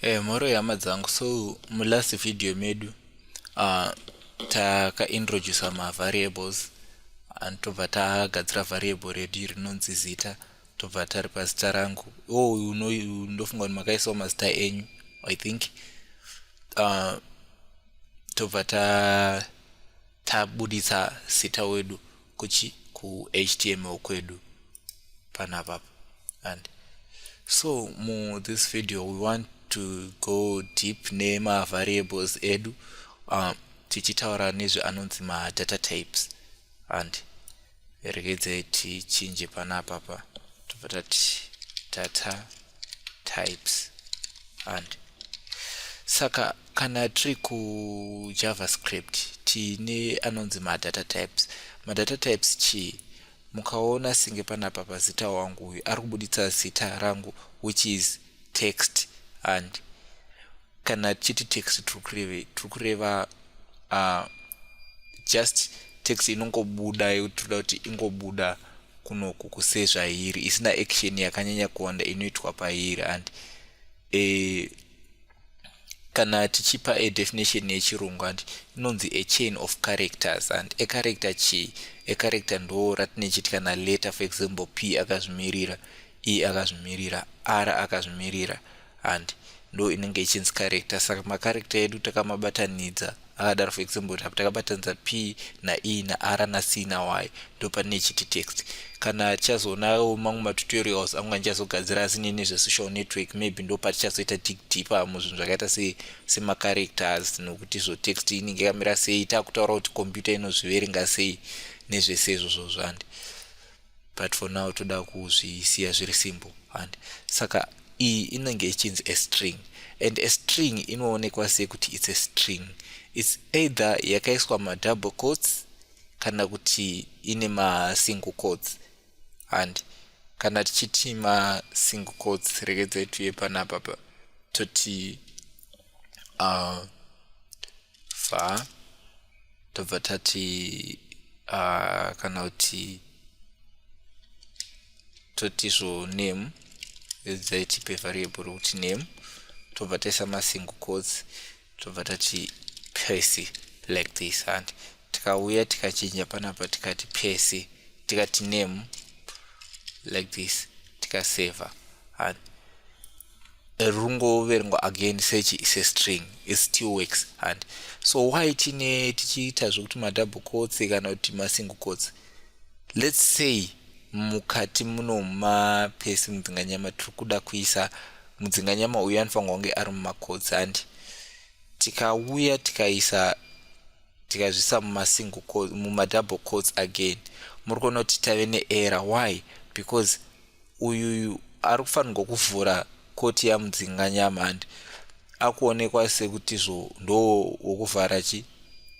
Eh, mhoro yehama dzangu so mulast video medu uh, takaintroducer mavariables and tobva tagadzira variable redu rinonzi zita tobva tari pazita rangu o oh, ndofunga kuti makaisawo mazita enyu i think uh, tobva tabuditsa zita wedu kuchi ku html kwedu panapa and so mu this video we want to go deep nema variables edu um, tichitaura nezve anonzi ma data types and regedzai tichinje panapa pa tobva tati data types and saka Kana tiri kuJavaScript tiine anonzi madata types. Madata types chii? Mukaona singe panapa pazita wangu uyu ari kubuditsa zita rangu which is text and kana tichiti text tiri kureva uh, just text inongobuda yekuti toda kuti ingobuda kunoku kusezvairi isina action yakanyanya kuwanda inoitwa pairi and e, kana tichipa a definition yechirungu handi inonzi a chain of characters and a character chii a character ndo ratine chiti kana letter for example p akazvimirira e akazvimirira r akazvimirira and ndo inenge ichinzi character saka macharecter edu takamabatanidza akadaro for example kuti apa takabatanidza p nae naara nac nay ndopanine chiti text kana tichazoonawo mamwe matutorials angu andichazogadzira asi nene zvesocial network maybe ndopatichazoita dig deeper muzvinhu zvakaita se semacharacters nokuti zvo text inenge yakamira sei takutaura kuti computer inozviverenga sei nezvese izvozvo zvandi but for now toda kuzvisiya zviri simple and saka iyi inenge ichinzi a string and a string inoonekwa sei kuti its a string its either yakaiswa madouble coats kana kuti ine masingle coats and kana tichiti masingle coats regedzai tuye panapapa toti uh, fa tobva tati uh, kana kuti toti zvo name dzaitipe variable rokuti name tobva taisa masingle codes tobva tati pesi like this and tikauya tikachinja panapa tikati pesi tikati name like this tikaseva and rungoverengwa again search is a string it still works and so why tine tichiita zvekuti madouble coats kana kuti masingle coats let's say mukati muno mapesi mudzinganyama tiri kuda kuisa mudzinganyama uyu anofanirwa kunge ari mumacoats handi tikauya tikaisa tikazvisa mumasingle mumadouble coats again muri kuona kuti tave neera why because uyuyu ari kufanirwa kuvhura koti yamudzinga nyamandi akuonekwa sekutizvo ndo wokuvhara chi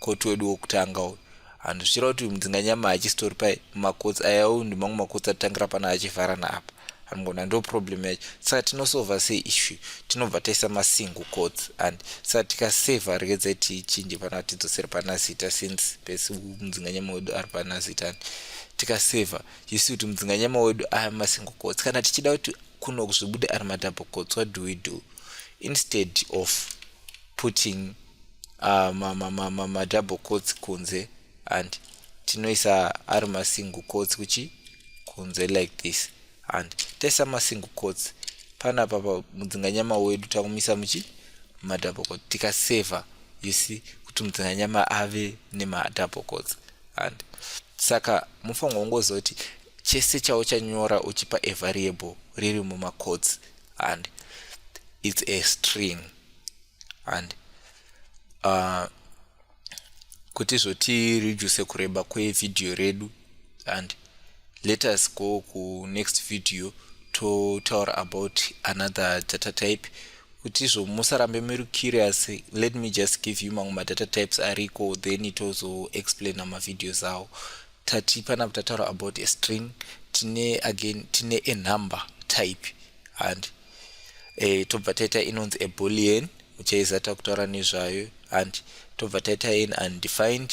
koti wedu wokutanga uyu handu zvichira kuti uyu mudzinga nyama hachisitori pai makotsi aya uyu ndimamwe makotsi atitangira pana achivhara naapa anogona ndo problem yacho saka tinosova sei issue tinobva taisa masingle cots and saka tikaseva regedzai tichinje pana tidzosere pana zita since pesi mudzinganyama wedu ari pana zita and tikaseva you see kuti mudzinganyama wedu aya masingokotsi kana tichida kuti kuno kuzvibude ari matapokotsi what do we do instead of putting uh, madouble coats kunze and tinoisa ari masingle coats kuchi kunze like this and taisa masingle coats pana papa mudzinganyama wedu takumisa muchi madouble coats tikaseva you see kuti mudzinganyama ave nemadouble coats and saka mufanirwa kungozoti chese chauchanyora uchipa a variable riri mumacodes and its a string and uh, kuti zvoti reduce kureba kwevhidhiyo redu and let us go kunext video totaura about another data type kuti izvo musarambe muri curious let me just give you mamwe madata types ariko then tozoexplaina mavideos awo tati panapa tataura about a string tine again tine a number type and e, tobva taita inonzi a bullion muchaiza takutaura nezvayo and tobva taita in undefined